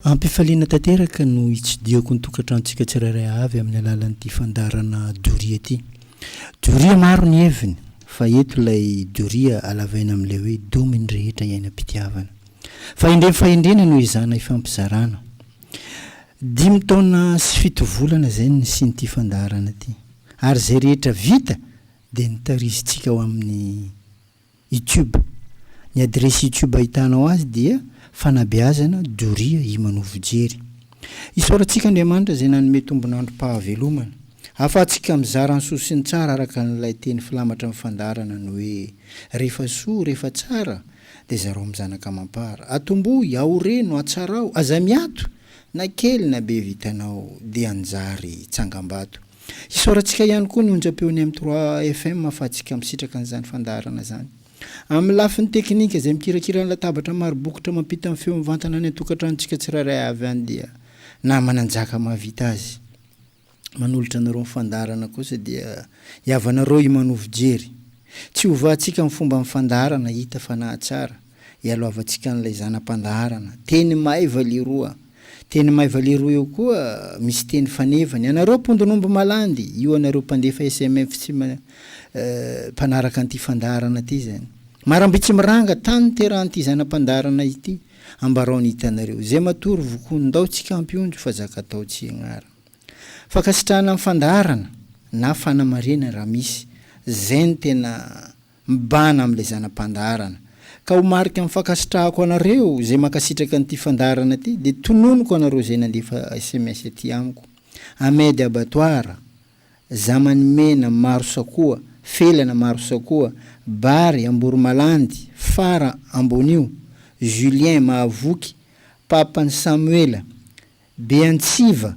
Am-pifaliana tanteraka no itsidihako ny tokantranontsika tsirairay avy amin'ny alalan'ity fandaharana doria ity. Doria maro ny heviny, fa eto ilay doria halavaina amin'ilay hoe domy ny rehetra iainam-pitiavana. Fahendrena fahendrena no ezahana hifampizarana. Dimy taona sy fito volana izay no nisian'ity fandaharana ity. Ary izay rehetra vita dia nitarizintsika ho amin'ny Youtube. Ny adiresy Youtube ahitanao azy dia, Fanabeazana doria Imanovo Jery. Isaorantsika Andriamanitra izay nanome tombon'androm-pahavelomana. Ahafahantsika mizara ny soa sy ny tsara araka an'ilay teny filamatra amin'ny fandaharana ny hoe, Rehefa soa, rehefa tsara, dia zarao amin'ny zanaka amam-para. Atombohy, aoreno, atsarao. Aza miato! Na kely na be vitanao, dia anjary tsangambato. Isaorantsika ihany koa ny onjam-peon'ny M trois FM ahafahantsika misitraka an'izany fandaharana izany. Amin'ny lafiny teknika, izay mikirakira ny latabatra maro bokotra mampita ny feo mivantana any an-tokantranontsika tsirairay avy any dia Nama Nanjaka mahavita azy. Manolotra anareo ny fandaharana kosa dia i havanareo Imanovo Jery. Tsy hovahantsika ny fomban'ny fandaharana, hita fa nahatsara. ialoavantsika an'ilay zana-pandaharana. Teny maiva leroa. Teny maiva leroa eo koa misy teny fanevany. Anareo mpondin'omby malandy, io anareo mpandefa SMF tsy mpanaraka an'ity fandaharana ity izany. Maramby tsy miranga tany niterahan'ity zana-pandaharana ity. Ambarao ny hitanareo. Izay matory vokoan-dao tsy kampy ondry fa zaka-tao tsy ianarana. Fankasitrahana ny fandaharana na fanamarihana raha misy. Izay no tena. Mibahana amin'ilay zana-pandaharana. Ka ho marika amin'ny fankasitrahako anareo izay mankasitraka an'ity fandaharana ity dia tononiko anareo izay nandefa sms aty amiko. Ahmed Abattoir, Zamany Mena, Marosakoa, Felana, Marosakoa, Bary, Amboromalandy, Fara, Ambonio, Julien, Mahavoky, Papan'i Samuela, Beantsiva,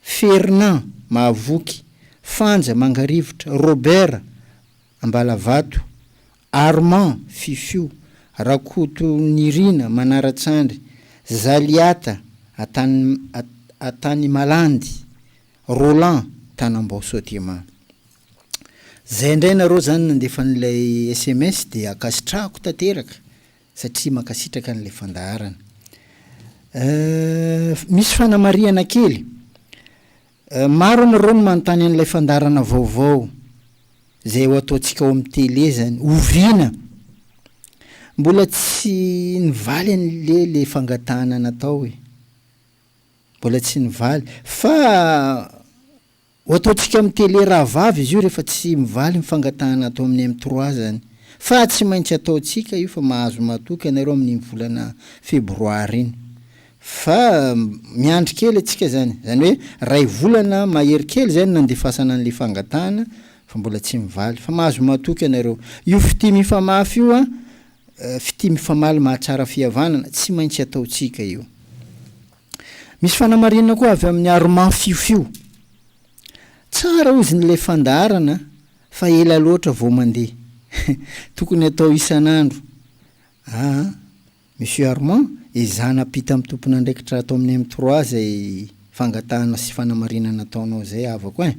Fernand, Mahavoky, Fanja, Mangarivotra, Robert, Ambalavato, Armand, Fifio, Rakotonirina, Manaratsandry, Zaliata, Antanimalandy, Roland, Tanambao Sodiema. Zay indray nareo zany nandefa an'ilay sms dia ankasitrahako tanteraka. satria mankasitraka an'ilay fandaharana eh, misy fanamarihana kely eh, maro anareo no manontany an'ilay fandaharana vaovao zay ho ataontsika ao amin'ny tele zany oviana mbola tsy nivaly an'le le fangatahana natao e mbola tsy nivaly fa Ho ataontsika amin'ny tele rahavavy izy io rehefa tsy mivaly ny fangatahana atao amin'ny M trois zany. Fa tsy maintsy ataontsika io fa mahazo matoky anareo amin'iny volana febroary iny. Fa miandry kely antsika zany. Zany hoe ray volana mahery kely zay no nandefasana an'le fangatahana fa mbola tsy mivaly. Fa mahazo matoky anareo. Io fitia mifamafy io an, fitia mifamaly mahatsara fihavanana, tsy maintsy ataontsika io. Misy fanamarinana koa avy amin'ny Armand Fiofio. Tsara hozy ny ilay fandaharana fa ela loatra vao mandeha. Tokony atao isan'andro. Aa Monsieur Armand, ezahana ampita amin'ny tompon'andraikitra ato amin'ny M3 izay fangatahana sy fanamarinana ataonao izay havako ein.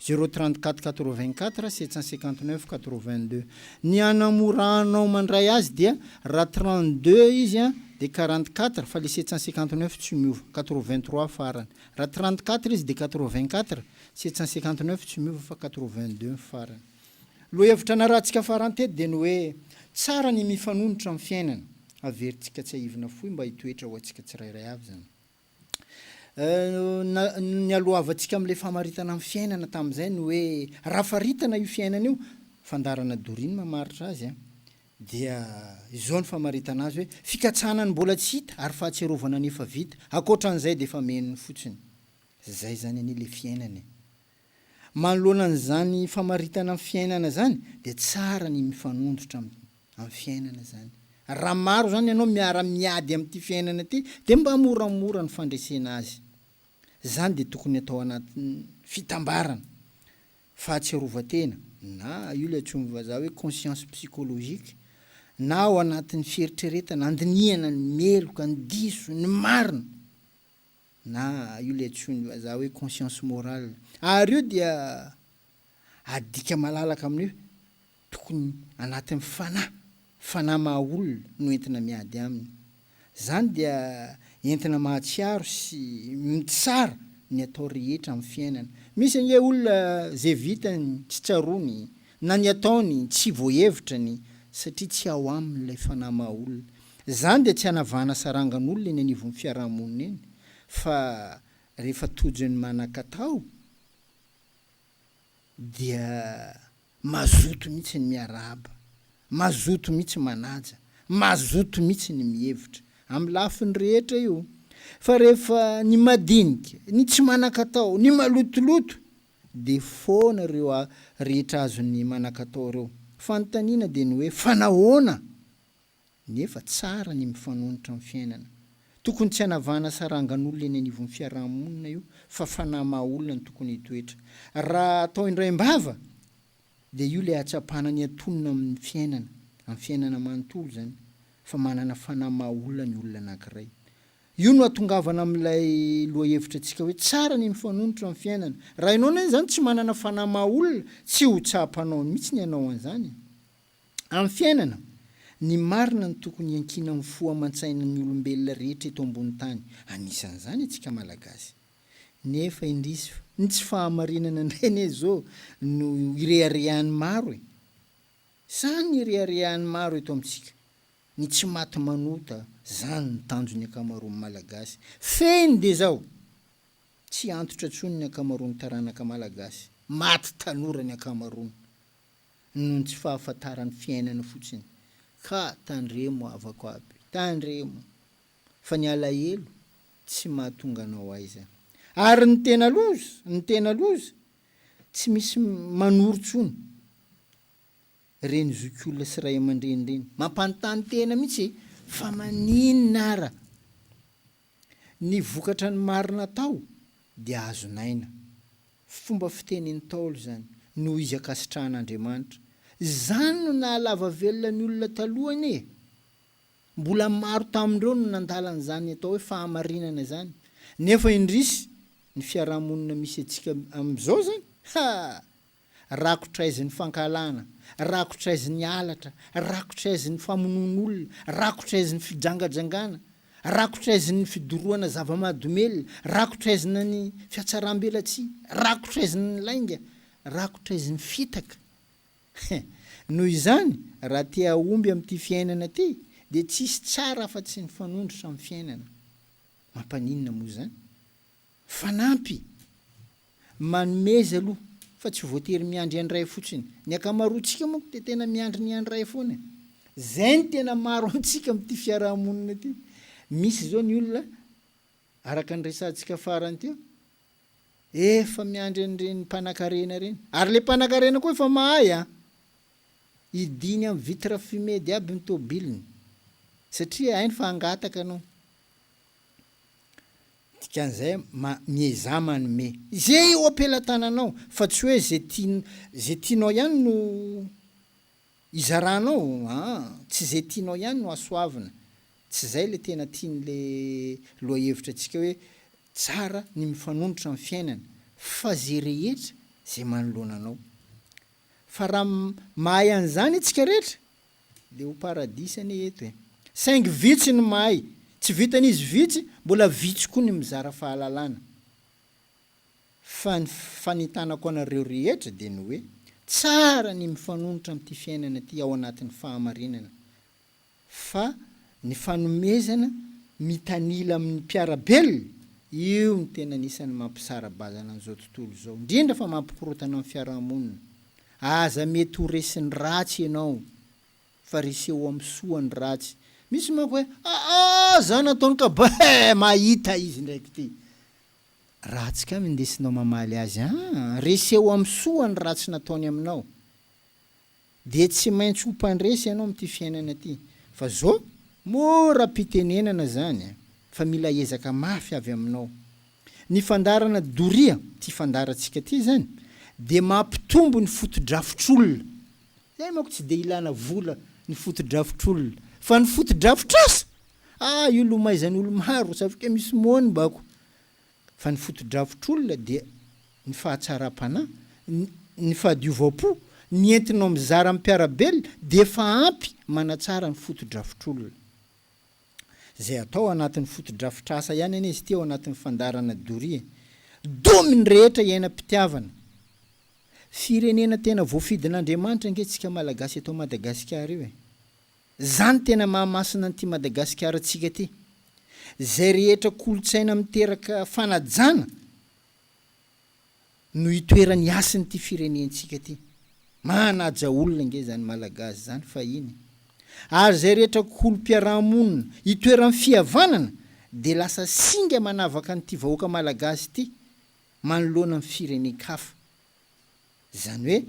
Zéro trente quatre quatre vingt quatre sept cent cinquante neuf quatre vingt deux ny hanamora anao mandray azy dia raha trente deux izy an dia quarante quatre fa le sept cent cinquante neuf tsy miova quatre vingt trois farany raha trente quatre izy dia quatre vingt quatre sept cent cinquante neuf tsy miova fa quatre vingt deux ny farany. Lohahevitra narahantsika farany teto dia ny hoe tsara ny mifanonotra amin'ny fiainana, averintsika tsiahivina fohy mba hitoetra ho antsika tsirairay avy izany. nialohavantsika amin'ilay famaritana ny fiainana tamin'izay ny hoe raha faritana io fiainana io, fandaharana Doreen mamaritra azy an, dia izao ny famaritana azy hoe fikatsahana ny mbola tsy hita ary fahatsiarovana ny efa vita, ankoatra an'izay dia efa miheno fotsiny. Izay izany anie ilay fiainana e. Manoloana an'izany famaritana ny fiainana izany dia tsara ny mifanondrotra amin'ny amin'ny fiainana izany. Raha maro izany ianao miara miady amin'ity fiainana ity dia mba moramora ny fandresena azy. Izany dia tokony atao anatin'ny fitambarana. Fahatsiarovan-tena, na io ilay antsoin'ny vazaha hoe conscience psychologique, na ao anatin'ny fieritreretana, andinihana ny meloka, ny diso, ny marina. na io le antsoin'ny vazaha hoe conscience morale, ary io dia adika malalaka amin'ny hoe tokony anatin'ny fanahy, fanahy maha olona no entina miady aminy. Izany dia entina mahatsiaro sy mitsara ny atao rehetra amin'ny fiainana. Misy ange olona ze vitany tsy tsaroany Na ny ataony tsy voahevitra ny satria tsy ao aminy ilay fanahy maha olona. Izany dia tsy hanavahana sarangan'olona eny anivon'ny fiaraha-monina eny fa rehefa tojo ny manan-katao dia mazoto mihitsy ny miarahaba, mazoto mihitsy manaja, mazoto mihitsy ny mihevitra. Amin'ny lafiny rehetra io. Fa rehefa ny madinika, ny tsy manan-katao, ny malotoloto, Dia foana ireo rehetra azony manakatao ireo. Fanontaniana dia ny hoe fa nahoana? Nefa tsara ny mifanonotra amin'ny fiainana. Tokony tsy hanavahana sarangan'olona eny anivon'ny fiaraha-monina io fa fanahy maha-olona no tokony hitoetra. Raha atao indraim-bava dia io ilay hahatsapana ny antonona amin'ny fiainana, amin'ny fiainana manontolo izany, fa manana fanahy maha-olona ny olona anankiray. Io no atongavana amin'ilay lohahevitra antsika hoe tsara ny mifanonotra amin'ny fiainana. Raha ianao anie izany tsy manana fanahy maha olona, tsy ho tsaha-panao mihitsy ny hanao an'izany e. Amin'ny fiainana, ny marina no tokony hiankina amin'ny fo aman-tsainan'ny olombelona rehetra eto ambony tany, anisan'izany antsika Malagasy. Nefa indrisy fa ny tsy fahamarinana indray anie izao no ireharehan'ny maro e. Sa ny ireharehan'ny maro eto amintsika Ny tsy maty manota, zany ny tanjon'ny ankamaroan'ny Malagasy. Fehiny dia zao, tsy antitra tsony ny ankamaroan'ny taranaka Malagasy, maty tanora ny ankamaroany, noho ny tsy fahafantaran'ny fiainana fotsiny, ka tandremo havako aby, tandremo, fa ny alahelo tsy mahatonga anao aiza. Ary ny tena loza, ny tena loza, tsy misy manoro tsony. reny zokiolona sy ray amandreny reny mampanontany tena mihitsy e fa maninona ara ny vokatra ny marina atao dia azonaina fomba fiteny ntaolo zany noho izy ankasitrahan andriamanitra zany no nahalava velona ny olona taloha anie e mbola maro tamindreo no nandala anzany atao hoe fahamarinana zany nefa indrisy ny fiarahamonina misy atsika amizao zany haa Rakotra aizy ny fankahalana, rakotra aizy ny halatra, rakotra aizy ny famonoan'olona, rakotra aizy ny fijangajangana, rakotra aizy ny fidorohana zava-mahadomelina, rakotra aizy na ny fiatsaram-belatsihy, rakotra aizy ny lainga, rakotra aizy ny fitaka. He! Noho izany, raha te hahomby amin'ity fiainana ity, dia tsisy tsara afa-tsy ny fanondrotra amin'ny fiainana. Mampaninona moa izany? Fanampy, Manomeza aloha fa tsy voatery miandry andray fotsiny. Ny ankamaroantsika manko dia tena miandry ny andray foana e. Izay no tena maro amintsika amin'ity fiaraha-monina ity. Misy izao ny olona, araka ny resahantsika farany teo, efa miandry an'ireny mpanakarena ireny. Ary ilay mpanakarena koa efa mahay an! Hidiany amin'ny vitre fumede aby ny tobiliny, satria hainy fa hangataka anao. Dikan'izay, ma, miezaha manome. Izay eo am-pelatananao, fa tsy hoe izay tian, izay tianao ihany no izaranao, aa, tsy izay tianao ihany no asoavina. Tsy izay ilay tena tian'ilay lohahevitrantsika hoe tsara ny mifanonotra amin'ny fiainana, fa izay rehetra izay manoloana anao. Fa raha mahay an'izany isika rehetra, Le ho paradis anie eto e. Saingy vitsy ny mahay, tsy vitan'izy vitsy, mbola vitsy koa ny mizara fahalalana. Fa ny fanentanako anareo rehetra dia ny hoe, tsara ny mifanonotra amin'ity fiainana ity ao anatin'ny fahamarinana, fa ny fanomezana mitanila amin'ny mpiara-belona, io no tena anisan'ny mampisara-bazana an'izao tontolo izao, indrindra fa mampikorontana ny fiarahamonina. Aza mety ho resin'ny ratsy ianao fa reseho amin'ny soa ny ratsy. Misy manko hoe aa za nataony ka beh mahita izy ndraiky ty ratsy ka mindesinao mamaly azy aa reseho amin'ny soa ny ratsy nataony aminao dia tsy maintsy ho mpandresy ianao amin'ity fiainana ty fa zo mora pitenenana zany fa mila ezaka mafy avy aminao Ny fandaharana doria, ity fandaharantsika ity izany, dia mampitombo ny fotodrafitr'olona. Izay manko tsy dia ilana vola ny fotodrafitr'olona. Fa ny fotodrafitr'asa, ah io lomaizan'olo-maro, satria misy moanbako. Fa ny fotodrafitr'olona dia ny fahatsaram-panahy, ny fahadiovam-po, ny entinao mizara amin'ny mpiara-belona dia efa ampy manatsara ny fotodrafitr'olona. Izay atao anatin'ny fotodrafitrasa ihany anie izy ity ao anatin'ny fandaharana doria. Domy ny rehetra iainam-pitiavana. Firenena tena voafidin'Andriamanitra ange tsika Malagasy eto Madagasikara io e. Zany tena mahamasina an'ity Madagasikara tsika ty. Zay rehetra kolotsaina miteraka fanajana. no itoeran'ny hasin'ity firenentsika ity. Manaja olona ange izany Malagasy izany fahiny. Ary izay rehetra kolom-piaraha-monina itoeran'ny fihavanana dia lasa singa manavaka an'ity vahoaka Malagasy ity manoloana ny firenen-kafa. Izany hoe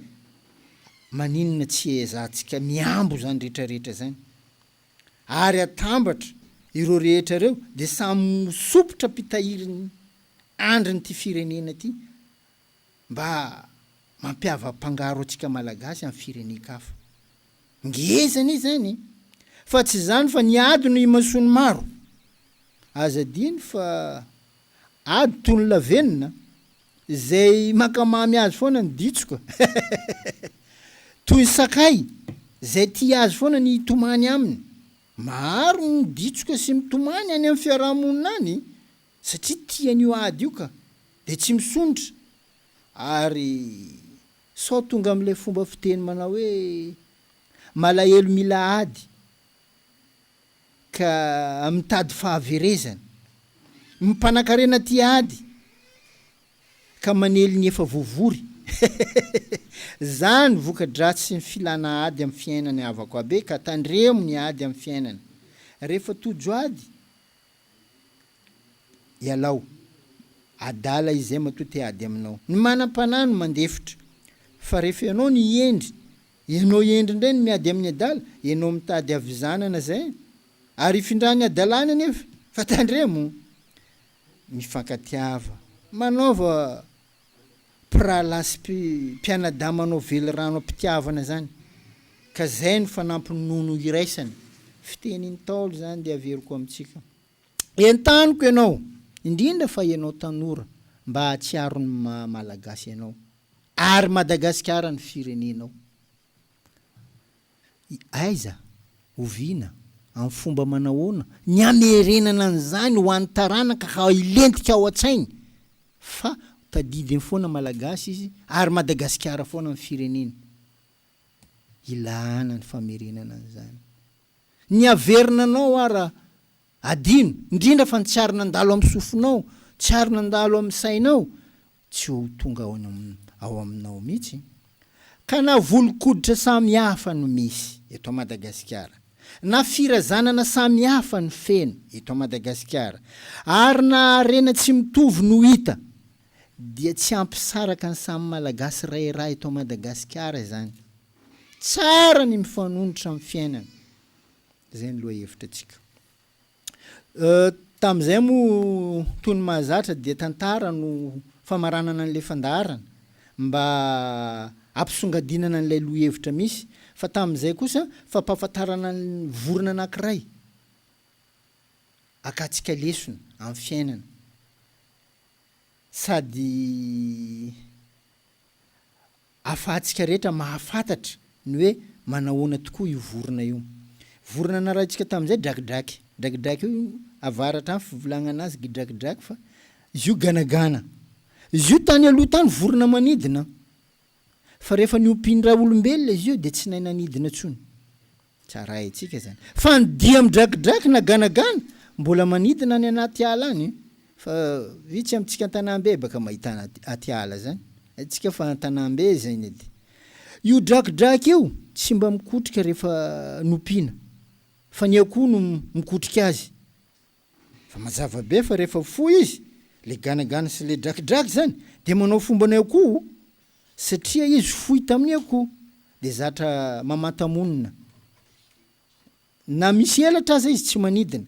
maninona tsy ehezahantsika mihambo izany rehetra rehetra izany. ary atambatra ireo rehetra ireo dia samy ho sompitra mpitahirin'ny andrin'ity firenena ity mba mampiava-pangaro antsika Malagasy amin'ny firenen-kafa. Ngeza anie izany e! Fa tsy izany fa ny ady no imason'ny maro. Aza adino fa ady toy ny lavenona Izay mankamamy azy foana ny ditsoka toy ny sakay izay tia azy foana ny hitomany aminy. Maro ny ditsoka sy mitomany any amin'ny fiaraha-monina any satria tiany io ady io ka, dia tsy misondrotra ary sao tonga amin'ilay fomba fiteny manao hoe malahelo mila ady. ka mitady fahaverezana. Ny mpanankarena tia ady ka manely ny efa voavory. Zany voka-dratsy ny filana ady amin'ny fiainana havako abe ka tandremo ny ady amin'ny fiainana. Rehefa tojo ady ialao. Adala izay matoa te ady aminao. Ny manam-panahy no mandefitra fa rehefa ianao no hihendry Ianao hendry indray no miady amin'ny adala, ianao mitady havizanana izay ary hifindran'ny hadalany anefa, fa tandremo! Mifankatiava, manaova mpirahalahy sy mpianadahy manao velirano am-pitiavana izany ka izay no fanampin'ny nono iraisana. Fitenin'ny Ntaolo izany dia averiko amintsika. Entaniko ianao, indrindra fa ianao tanora, mba hahatsiaro ny maha Malagasy anao, ary Madagasikara ny firenenao. Aiza, oviana, amin'ny fomba manahoana ny hamerenana an'izany ho an'ny taranaka ka hilentika ao an-tsainy fa tadidiny foana Malagasy izy ary Madagasikara foana ny fireneny. Ilàna ny famerenana an'izany. Ny haverina anao ara adino, indrindra fa ny tsy ary nandalo amin'ny sofinao, tsy ary nandalo amin'ny sainao, tsy ho tonga ao aminao mihitsy. Ka na volon-koditra samy hafa no misy eto Madagasikara, na firazanana samy hafa no feno eto Madagasikara, ary na harena tsy mitovy no hita, dia tsy hampisaraka ny samy Malagasy ray rà eto Madagasikara izany. Tsara ny mifanonotra amin'ny fiainana. Izay ny lohahevitra antsika. Tamin'izay moa toy ny mahazatra dia tantara no famaranana an'ilay fandaharana mba hampisongadinana an'ilay lohahevitra misy fa tamin'izay kosa fampahafantarana ny vorona anankiray akantsika lesona amin'ny fiainana sady Afahantsika rehetra mahafantatra ny hoe manahoana tokoa io vorona io. Vorona narahintsika tamin'izay drakidraky. Drakidraky io avaratra any fivolagnana azy gidrakidraky fa izy io ganagana. Izy io tany aloha tany vorona manidina fa rehefa niompin-dRaolombelona izy io dia tsy nahay nanidina intsony. Tsara haintsika izany. Fa ny dia midrakidraky na ganagana mbola manidina any anaty ala any fa vitsy amintsika an-tanàm-bebaka mahita anaty ala izany. Haintsika fa an-tanàm-be izay ny ady. Io drakidraky io tsy mba mikotrika rehefa nompiana fa ny akoho no mikotrika azy. Fa mazava be fa rehefa fohy izy, le ganagana sy le drakidraky zany, de manao fomba ny akoho, satria izy fohy tamin'ny akoho, de zatra mamanta-monina. Na misy elatra aza izy tsy manidina.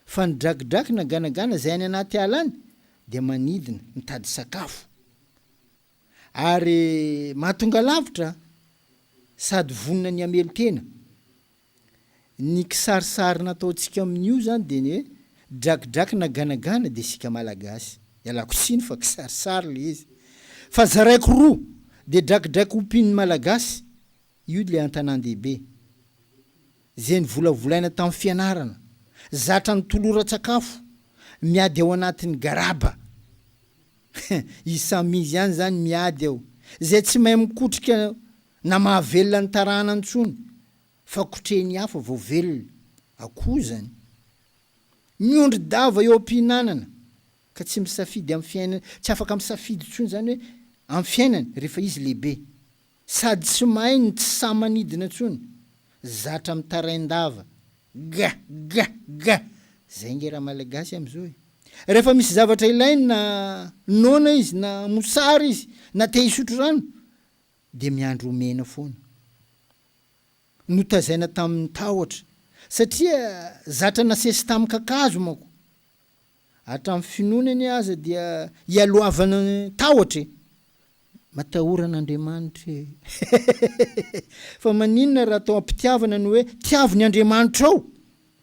Fa ny drakidraky na ganagana zay any anaty ala any, de manidina, mitady sakafo. Ary mahatonga lavitra, sady vonona ny hamelo tena. Ny kisarisary nataontsika amin'io zany dia ny hoe drakidraky na ganagana dia isika malagasy. Ialako tsiny fa kisarisary ilay izy. Fa zaraiko roa, dia drakidraky ompian'ny malagasy, io ilay an-tanàn-dehibe. Izay novolavolaina tamin'ny fianarana, zatra ny toloran-tsakafo, miady ao anatin'ny garaba. Izy samy izy ihany izany miady ao. Izay tsy mahay mikotrika Na mahavelona ny tarana ntsony fa kotrehiny hafa vao velona akoho zany. Miondry dava eo ampihinanana ka tsy misafidy am fiainany tsy afaka misafidy ntsony zany hoe am fiainany refa izy lehibe. Sady tsy mahay no tsy sahy manidina ntsony. Zatra mitaraindava. Ga! Ga! Ga! Zay nge ra malagasy am zao e. Refa misy zavatra ilainy na noana izy na mosary izy na te hisotro rano dia miandry omena foana. Notazaina tamin'ny tahotra satria zatra nasesy tamin'ny kakazo manko. Hatramin'ny finoana anie aza dia ialoavana ny tahotra e! Matahora an'Andriamanitra e! Fa maninona raha atao am-pitiavana ny hoe tiavo ny Andriamanitrao?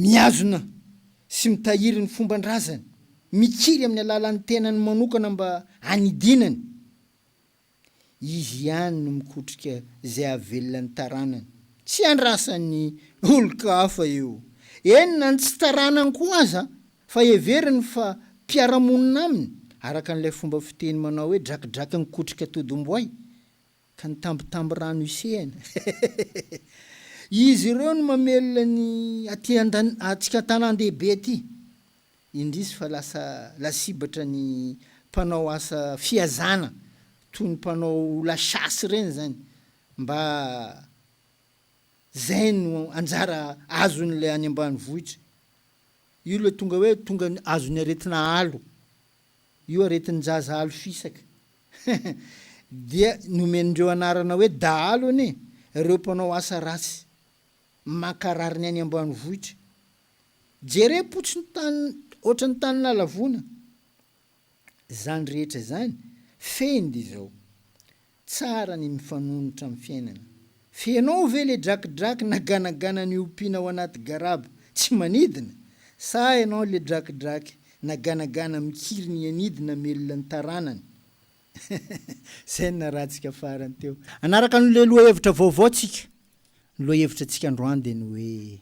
mihazona sy mitahiry ny fomban-drazany, mikiry amin'ny alalan'ny tenany manokana mba hanidinany, izy ihany no mikotrika izay hahavelona ny taranany, tsy andrasan'ny olon-kafa io, eny na ny tsy taranany koa aza fa heveriny fa mpiara-monina aminy, araka an'ilay fomba fiteny manao hoe drakidraky nikotrika todim-boay, Ka ny tambitambirano isehana. Izy ireo no mamelona ny aty antsika an-tanàn-dehibe aty. Indrisy fa lasa lasibatra ny mpanao asa fihazana toy ny mpanao la chasse ireny izany mba izay no anjara azon'ilay any ambanivohitra. Io ilay tonga hoe tonga azon'ny aretina alo. Io aretin-jaza alo fisaka. Dia nomen'ireo anarana hoe dahalo anie ireo mpanao asa ratsy maka rariny any ambanivohitra. Jerem-potsy ny tany ohatran'ny tany nalavona izany rehetra izany, fehiny dia izao, tsara ny mifanonotra amin'ny fiainana F'enao ve le drakidraky na ganagana ny ompiana ao anaty garaba tsy manidina? Sa enao le drakidraky na ganagana mikiry ny anidy namelona ny taranany? Zay ny narahantsika farany teo. Hanaraka an'le lohahevitra vaovao tsika. Ny lohahevitra tsika androany de ny hoe.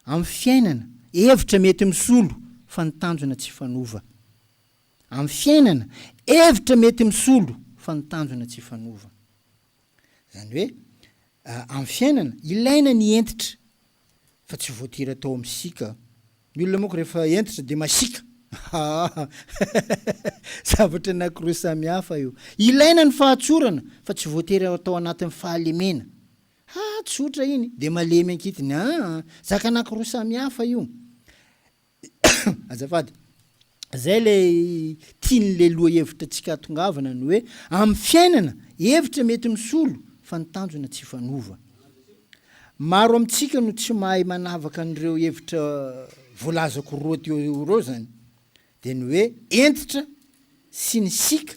Amin'ny fiainana, hevitra mety misolo fa ny tanjona tsy fanova. Amin'ny fiainana, hevitra mety misolo fa ny tanjona tsy fanova. Izany hoe, amin'ny fiainana, ilaina ny hentitra fa tsy voatery atao amin'ny sika. Ny olona manko rehefa hentitra dia masiaka. Haa! Zavatra anankiroa samihafa io. Ilaina ny fahatsorana fa tsy voatery atao anatin'ny fahalemena. Ha! tsotra iny dia malemy ankitiny a! zaka anakiroa samy hafa io. Azafady. Zay ilay tian'ilay lohahevitra tsy katongavana ny hoe amin'ny fiainana hevitra mety misolo fa ny tanjona tsy hifanova. Maro amintsika no tsy mahay manavaka an'ireo hevitra voalazako roa teo ireo zany dia ny hoe hentitra sy ny sic.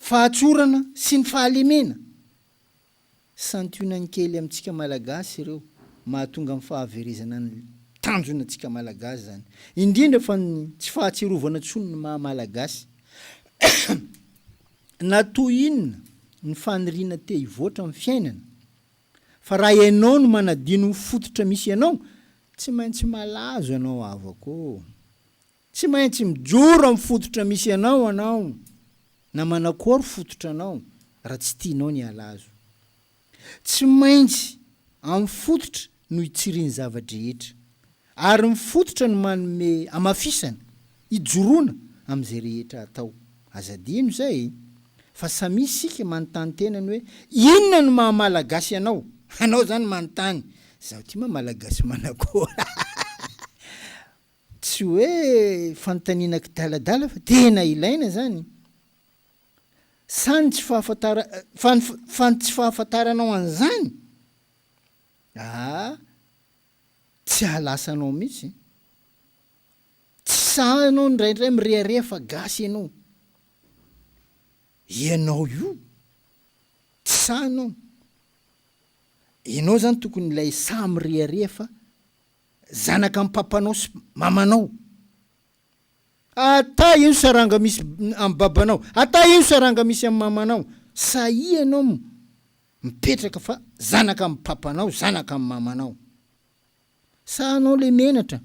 Fahatsorana sy ny fahalemena. Santionany kely amintsika Malagasy ireo, mahatonga ny fahaverezana ny tanjona antsika Malagasy izany. Indrindra fa ny tsy fahatsiarovana intsony ny maha Malagasy. Na toy inona ny faniriana te hivoatra amin'ny fiainana, fa raha ianao no manadino ny fototra misy anao, tsy maintsy malazo ianao havako ô! Tsy maintsy mijoro amin'ny fototra misy anao anao na manakory fototra anao raha tsy tianao ny halazo. Tsy maintsy amin'ny fototra no hitsiriany zava-drehetra. Ary ny fototra no manome hamafisana, hijoroana amin'izay rehetra atao. Aza adino izay e! Fa samia isika manontany tena ny hoe inona no maha Malagasy anao? Anao izany manontany, izaho ity moa Malagasy manakory? Tsy hoe fanontaniana kidaladala fa tena ilaina izany. Sa ny tsy fahafantara fa ny fa ny tsy fahafantaranao an'izany aa tsy ahalasa anao mihitsy. Tsy sahy ianao indraindray mirehareha fa gasy ianao. Ianao io tsy sahy ianao. Ianao izany tokony ilay sahy mirehareha fa zanaka am papanao sy mamanao ata ino saranga misy am babanao ata ino saranga misy am mamanao sahia ianao m mipetraka fa zanaka am papanao zanaka am mamanao sa anao le menatra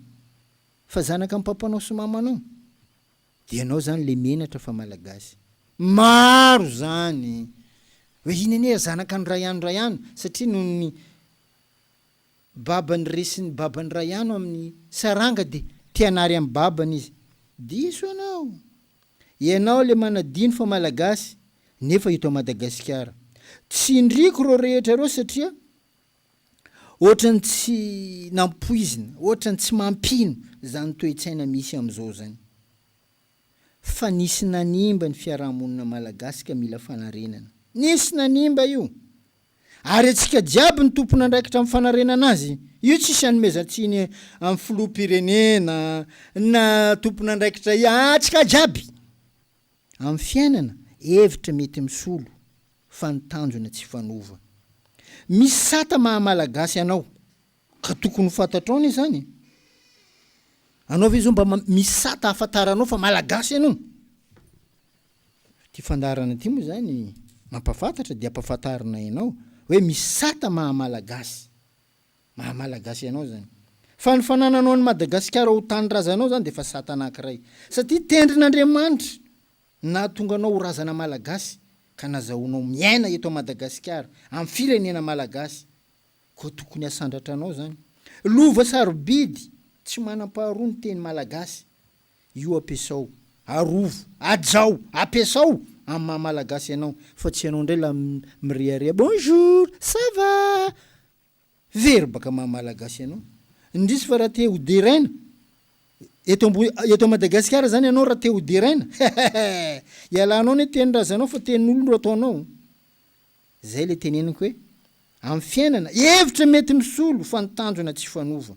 fa zanaka am papanao sy mamanao de ianao zany le menatra fa malagasy maro zany e! hoe iny anie zanaka an drayan drayan satria nohon'ny babany resin'ny babany raha iano amin'ny saranga de tianary amin'ny babany izy. Diso ianao! Ianao le manadino fa malagasy nefa eto Madagasikara. Tsindriako reo rehetra reo satria ohatrany tsy nampoizina, ohatrany tsy mampino zany toe-tsaina misy amzao zany. fa nisy nanimba ny fiarahamonina malagasy ka mila fanarenana. Nisy nanimba io. Ary antsika jiaby no tompon'andraikitra amin'ny fanarenana azy. Io tsisy anomezan-tsiny amin'ny filoham-pirenena na tompon'andraikitra ia, antsika jiaby. Amin'ny fiainana, hevitra mety misolo fa ny tanjona tsy fanova. Misy sata maha-malagasy anao Ka tokony ho fantatrao anie izany e! Anao ve izao mba misy sata ahafantaranao fa malagasy ianao? Ity fandaharana ity moa izany mampahafantatra dia ampahafantarina ianao hoe misy sata maha malagasy, maha malagasy anao izany. Fa ny fanananao an'i Madagasikara ho tanindrazanao izany dia efa sata anankiray. Satria tendrin'Andriamanitra ny nahatonga anao ho razana malagasy ka nazahoanao miaina eto Madagasikara, amin'ny firenena malagasy. Koa tokony asandratra anao zany. Lova sarobidy tsy manam-paharoa ny teny malagasy. Io ampiasao, arovo, ajao, ampiasao amin'ny maha malagasy anao fa tsy ianao indray la mirehareha bonjour, ça va? Very baka maha malagasy anao. Indrisy fa raha te ho deraina eto ambo eto Madagasikara zany ianao raha te ho deraina, hehehe! Ialanao anie tenin-drazanao fa tenin'olona no ataonao. Izay ilay teneniko hoe, amin'ny fiainana, hevitra mety misolo fa ny tanjona tsy hifanova.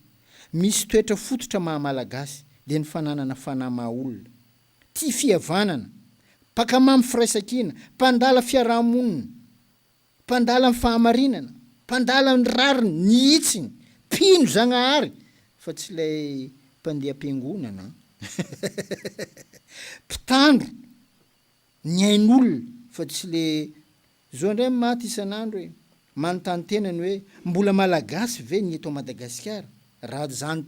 Misy toetra fototra maha Malagasy, dia ny fananana fanahy maha olona. Tia fihavanana. Mpaka mamy firaisankina. Mpandala fiaraha-monina. Mpandala ny fahamarinana. Mpandala ny rariny, ny hitsiny. Mpino Zagnahary, fa tsy ilay mpandeha am-piangonana an! Mpitandro. Ny ain'olona fa tsy le zo indray ny maty isan'andro e! Manontany tena ny hoe mbola malagasy ve ny eto à Madagasikara raha zany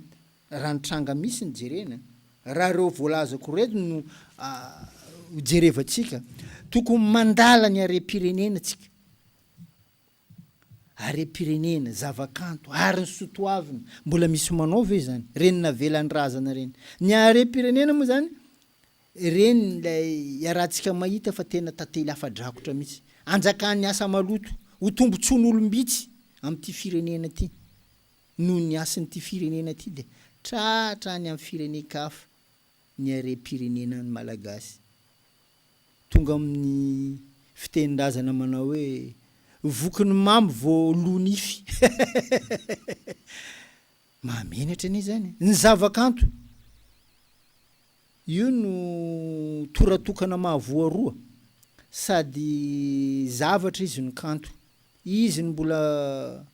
raha ny tranga misy ny jerena a! Raha ireo voalazako reto no jerevantsika tokony mandala ny harem-pirenena tsika. harem-pirenena, zavakanto, ary ny soa toavina. Mbola misy manao ve izany? Ireny navelan'ny razana ireny. Ny harem-pirenena moa izany, ireny ilay iarahantsika mahita fa tena tantely hafa-drakotra mihitsy. Hanjakan'ny asa maloto, ho tombontsoan'olom-bitsy amin'ity firenena ity noho ny hasin'ity firenena ity dia tratra any amin'ny firenen-kafa. ny harem-pirenena ny Malagasy. Tonga amin'ny fitenin-drazana manao hoe voky ny mamy vao lo nify. Mahamenatra anie izany e! Ny zavakanto, io no tora tokana mahavoa roa, sady zavatra izy no kanto. Izy no mbola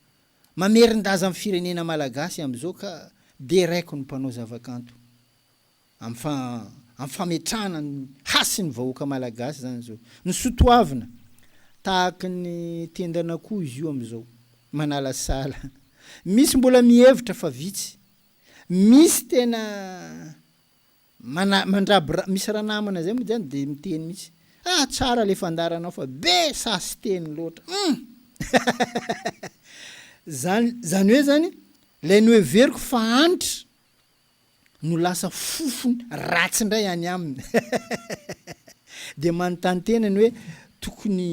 Mamerin-daza ny firenena malagasy amin'izao ka deraiko ny mpanao zavakanto amin'ny fametrahana ny hasin'ny vahoaka malagasy izany izao. Ny soa toavina, tahaka ny tendan'akoho izy io amin'izao, manalasala. Misy mbola mihevitra fa vitsy. Misy tena. Mana mandraby ra misy ranamana zay mody any de miteny mitsy ah tsara le fandaranao fa be sasiteny loatra humm zany zany hoe zany lay noheveriko fa Hanitra no lasa fofony ratsy ndray any aminy de manontany tena ny hoe tokony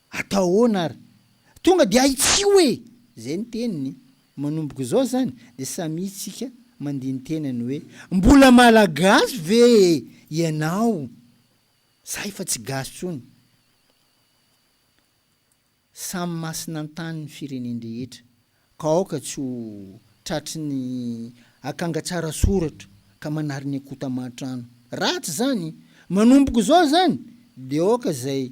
Atao ahoana ary? Tonga dia ahitsio e! Izay ny teniny. Manomboka izao izany dia samia tsika mandini-tena ny hoe, mbola Malagasy ve ianao? Za efa tsy gasy tsony. Samy masina an-tany ny firenen-drehetra ka aoka tsy ho tratry ny akanga tsara soratra ka manary ny akota aman-trano. Ratsy izany. Manomboka izao izany dia aoka izay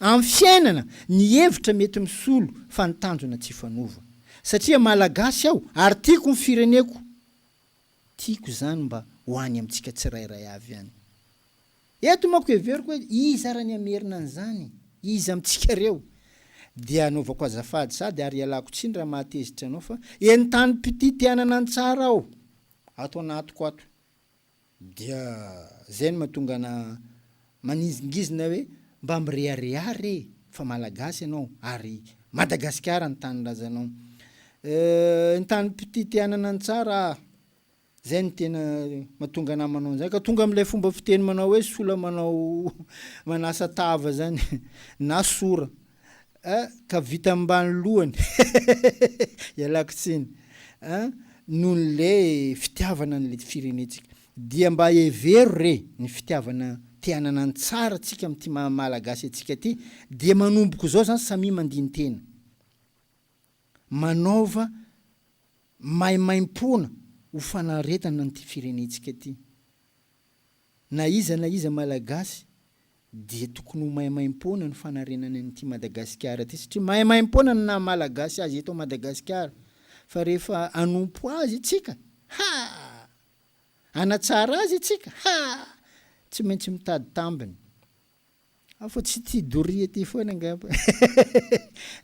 Amin'ny fiainana, ny hevitra mety misolo fa ny tanjona tsy hifanova. Satria Malagasy aho ary tiako ny fireneko, tiako izany mba ho any amintsika tsirairay avy any. Eto manko heveriko hoe iza ary ny hamerina an'izany? Iza amintsika reo? Dia anaovako azafady sady ary ialako tsiny raha mahatezitra anao fa eny tanim-pitia te hanana ny tsara aho, ato anatiko ato. Dia zay no mahatonga ana manizingizina hoe mba mirehareha re fa malagasy ianao ary Madagasikara ny tanindrazanao. Euh ny tany mpitia te hanana ny tsara ah. Zay no tena mahatonga ana manao an'zany ka tonga amin'ilay fomba fiteny manao hoe sola manao manasa tava zany na sora. A, ka vita ambany lohany ialako tsiny a, noho ny le fitiavana ny le firenentsika dia mba hevero re ny fitiavana te hanana ny tsara tsika amin'ity maha malagasy antsika ty dia manomboko zao zany samia mandintena manaova maimaimpoana ho fanaretana an'ity firenentsika ty. Na iza na iza Malagasy dia tokony ho maimaimpoana ny fanarenany an'ity Madagasikara ity satria maimaimpoana ny naha-Malagasy azy eto Madagasikara fa rehefa hanompo azy isika ha! hanatsara azy isika ha! tsy maintsy mitady tambiny. Afa tsy tia doria ty foana angamba.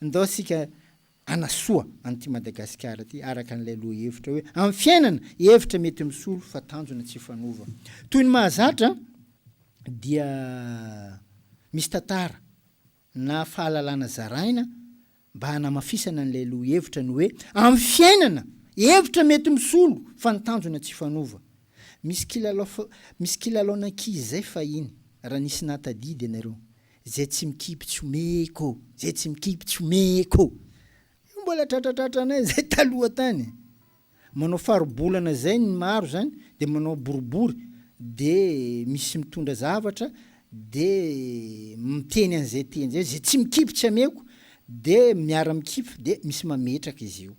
Ndao isika hanasoa an'ity Madagasikara ity araka an'ilay lohahevitra hoe amin'ny fiainana, hevitra mety misolo fa tanjona tsy fanova. Toy ny mahazatra dia misy tantara na fahalalana zaraina mba hanamafisana an'ilay lohihevitra ny hoe amin'ny fiainana, hevitra mety misolo fa ny tanjona tsy hifanova. Misy kilalao fa misy kilalaon'ankizy izay fahiny, raha nisy nahatadidy ianareo, Izay tsy mikipy tsy omeko, izay tsy mikipy tsy omeko. Io mbola tratratratranay izay taloha tany e! Manao faribolana zay ny maro zany de manao boribory de misy mitondra zavatra de miteny an'izay teny zay zay tsy mikipy tsy ameko de miara mikipy de misy mametraka izy io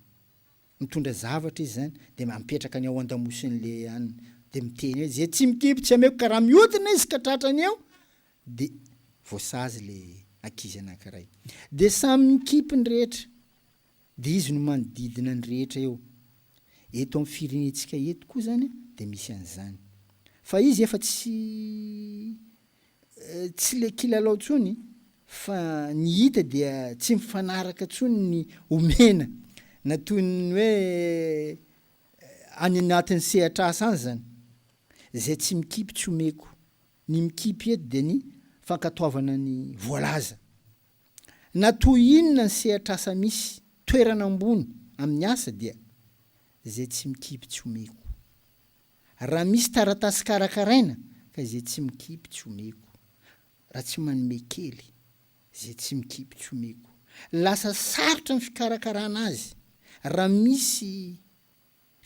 mitondra zavatra izy zany de mapetraka any ao andamosin'le any de miteny hoe zay tsy mikipy tsy ameko ka raha mihodina izy ka tratrany eo de voasazy le ankizy anankiray de samy mikipy ny rehetra. Dia izy no manodidina ny rehetra eo. Eto amin'ny firenentsika eto koa izany dia misy an'izany. Fa izy efa tsy tsy ilay kilalao intsony fa ny hita dia tsy mifanaraka intsony ny omena na toy ny hoe any anatin'ny sehatr'asa any izany. Izay tsy mikipy tsy omeko. Ny mikipy eto dia ny fankatoavana ny voalaza. Na toy inona ny sehatr'asa misy toerana ambony amin'ny asa dia izay tsy mikipy tsy omeko. Raha misy taratasy karakaraina ka izay tsy mikipy tsy omeko. Raha tsy manome kely, izay tsy mikipy tsy omeko. Lasa sarotra ny fikarakarana azy raha misy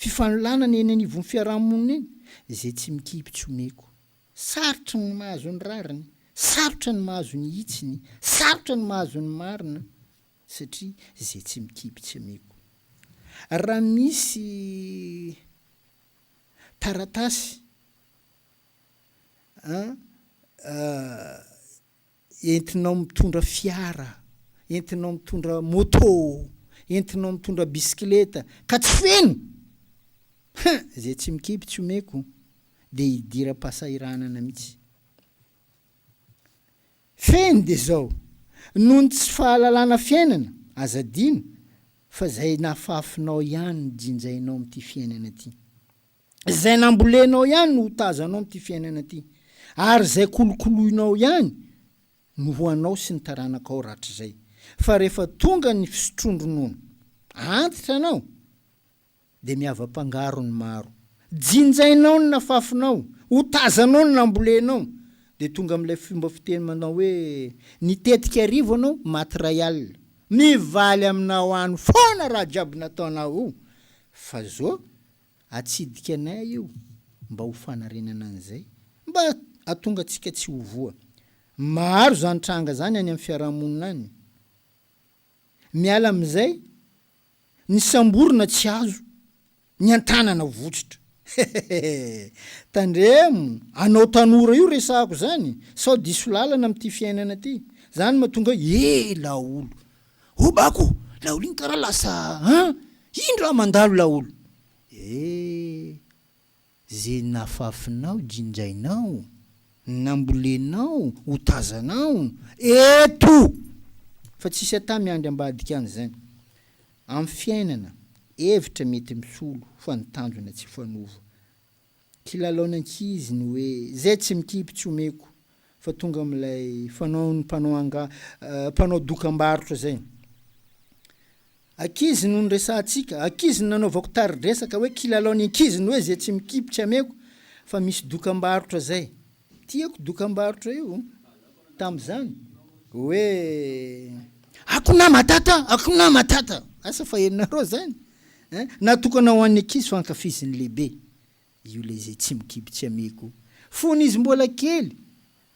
Fifanolanana eny anivon'ny fiarahamonina eny izay tsy mikipy tsy omeko. Sarotra ny mahazo ny rariny, sarotra ny mahazo ny hitsiny, sarotra ny mahazo ny marina satria izay tsy mikipy tsy omeko. Raha misy taratasy an entinao mitondra fiara, entinao mitondra moto, entinao mitondra bisikileta ka tsy feno! Hein! Izay tsy mikipy tsy omeko dia hidiram-pahasahiranana mihitsy. Feno dia izao, noho ny tsy fahalalana fiainana, aza adino fa izay nahafafinao ihany no jinjainao amin'ity fiainana ity. Izay nambolenao ihany no ho tazanao amin'ity fiainana ity, ary izay kolokoloinao ihany no ho anao sy ny taranakao rahatrizay. Fa rehefa tonga ny fisotroan-dronono, antitra anao, dia mihavam-pangaro ny maro. Jinjainao ny nafafinao, ho tazanao ny nambolenao, dia tonga amin'ilay fomba fiteny manao hoe, Ny tetika arivo anao, maty iray alina. Mivaly aminao any foana raha jiaby nataonao io, fa zo Atsidika anay io mba ho fanarenana an'izay mba atonga antsika tsy ho voa. Maro izany tranga izany any amin'ny fiaraha-monina any. Miala amin'izay, ny samborina tsy azo, ny an-tanana votsotra. Hehehehe. Tandremo, anao tanora io resahako izany, sao diso lalana amin'ity fiainana ity. Izany mahatonga hoe ela aolo. Obako laolo iny kara lasa an! Iny raha mandalo laolo. Eh! Ze nafafinao jinjainao, nambolenao ho tazanao eto! Fa tsisy ata miandry ambadika any zany. Am fiainana, hevitra mety misolo fa ny tanjona tsy fanova. Kilalaon ankizy ny hoe zay tsy mikipy tsy omeko fa tonga amin'ilay fanaon'ny mpanao anga mpanao dokambarotra zay. Ankizy no niresahantsika, ankizy no nanaovako tari-dresaka hoe kilalaon'ny ankizy ny hoe zay tsy mikipy tsy ameko fa misy dokambarotra zay. Tiako dokambarotra io tamzany hoe. Akona Matata, Akona Matata! Asa fa henonareo zany eh? Natokana ho an'ny ankizy fa ankafizin'ny lehibe io le ze tsy mikibo tsy ameko. Fony izy mbola kely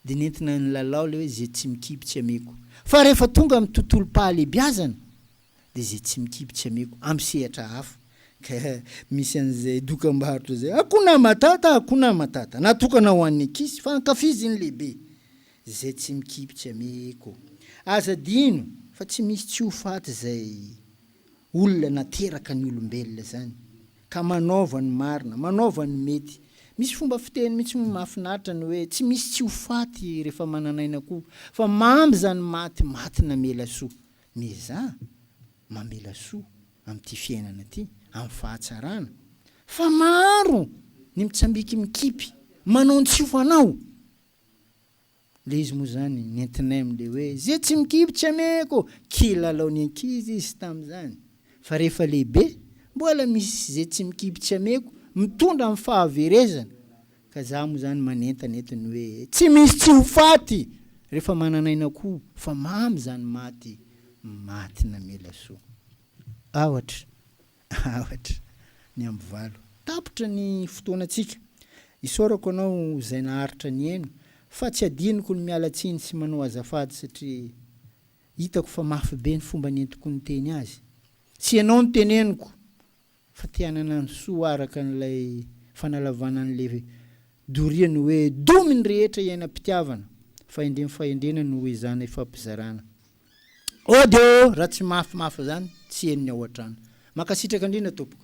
de nentina nilalao le hoe ze tsy mikibo tsy ameko. Fa rehefa tonga amin'ny tontolom-pahalebiazana dia izay tsy mikipy tsy ameko am sehatra hafa ka misy an'izay dokambarotra izay Hakuna Matata Hakuna Matata natokana ho an'ny ankizy fa ankafizin'ny lehibe izay tsy mikipy tsy ameko Aza adino fa tsy misy tsy ho faty izay olona nateraka ny olombelona izany ka manaova ny marina manaova ny mety Misy fomba fiteny mihitsy moa mahafinaritra ny hoe tsy misy tsy ho faty rehefa manan'aina koa fa mamy izany maty maty namela soa Miezaha mamela soa amin'ity fiainana ity, amin'ny fahatsarana, fa maro ny mitsambiky mikipy, manao ny tsy ho fanao. Le izy moa zany nentinay amle hoe ze tsy mikipy tsy ameko, kilalao ny ankizy izy tamzany. Fa rehefa lehibe, mbola misy ze tsy mikipy tsy ameko, mitondra amin'ny fahaverezana. Ka za moa zany manentana eto ny hoe tsy misy tsy ho faty rehefa manan'aina koa fa mamy zany maty maty namela soa aotra aotra ny amby valo tapitra ny fotoanantsika isaorako anao zay naharitra nihaino fa tsy adinoko ny miala tsiny sy manao azafady satria hitako fa mafy be ny fomba nentiko niteny azy sy ianao no teneniko Fa te hanana ny soa araka an'ilay fanalavana an'ilay doria ny hoe domy ny rehetra iainam-pitiavana, fahendrem fahendrena no ho ezahina ifampizarana. Ô Deo, raha tsy mafimafy izany, tsy henony ao an-trano. Mankasitraka indrindra tompoko.